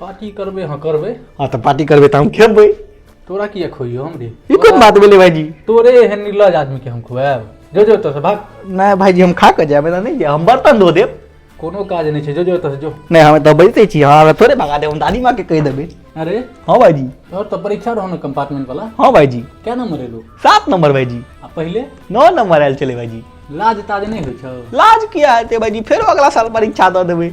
Party करबै हाँ करबै हाँ तऽ पार्टी करबै तऽ हम खेबै तोरा किया खोइयो हम रे ई कोन बात भेलै भाईजी तोरे एहन निर्लज आदमी के हम खुआएब जो जो ओतऽ से भाग नहि भाईजी हम खा कऽ जायब एना नहि जायब हम बर्तन धो देब कोनो काज नहि छै जो जो ओतऽ से जो नहि हम तऽ बजिते छी अहाँ थोड़े भगा देब हम दादी माँ के कहि देबै अरे हँ भाईजी तोहर तऽ परीक्षा रहौ ने कंपार्टमेंट वाला हँ भाईजी क्या नंबर एलो सात नंबर भाईजी आ पहिले नौ नंबर आयल छलै भाईजी लाज ताज नहि होइ छौ लाज किया हेतै भाईजी फेरो अगला साल परीक्षा दऽ देबै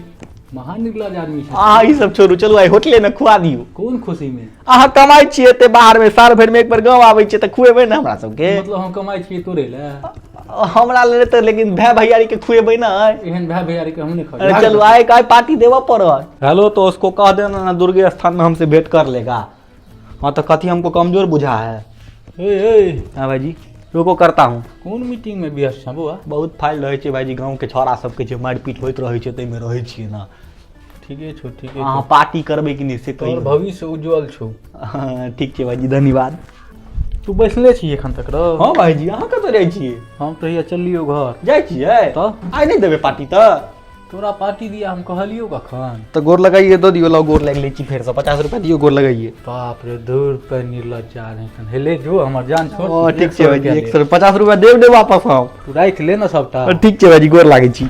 महा निर्लज आदमी छै अहाँ ई सब छोड़ू चलू आइ होटले में खुआ दियौ कोन खुशी में अहाँ कमाई छियै एते बाहर में साल भरि में एक बेर गाँव आबै छियै तऽ खुएबै ने हमरा सबके मतलब हम कमाई छियै तोरे ले हमरा ले तऽ लेकिन भाय भैयारी के खुएबै ने एहन भाय भैयारी के हम नहि खाबै चलू आइ आइ पार्टी देबऽ पड़त हेलो तो उसको कह देना ना दुर्गे स्थान में हमसे भेंट कर लेगा हाँ तो कथी हमको कमजोर बुझा है ए ए हाँ भाईजी रुको करता हूँ कोन मीटिंग में व्यस्त छँ बौआ बहुत फाइल रहै छै भाईजी गाँव के छौड़ा सबके छै मारपीट होइत रहै छै ताहिमे रहै छियै ने ठीके छौ ठीके अहाँ छौ पार्टी करबै कि नहि से तोहर कहियौ भविष्य उज्जवल छौ हाँ, ठीक छै भाईजी धन्यवाद तू बैसले छी एखन तक रौ हाँ भाईजी अहाँ कतऽ जाइ छियै हम तऽ हैया चललियौ घर जाइ छियै तऽ? आइ नहि देबै पार्टी तऽ तोरा पार्टी दिया हम कहलियो कखन तो गोर लगाइए दो दियो लाओ गोर लग ले छी फेर से पचास रुपया दियो गोर लगाइए बाप रे दू रुपए निर्लज जा रहे छन हेले जो हमर जान छोड़ ओ ठीक छै भाजी एक सौ पचास रुपया देब दे वापस हम तू राख ले ना सबटा ठीक छै भाजी गोर लागै छी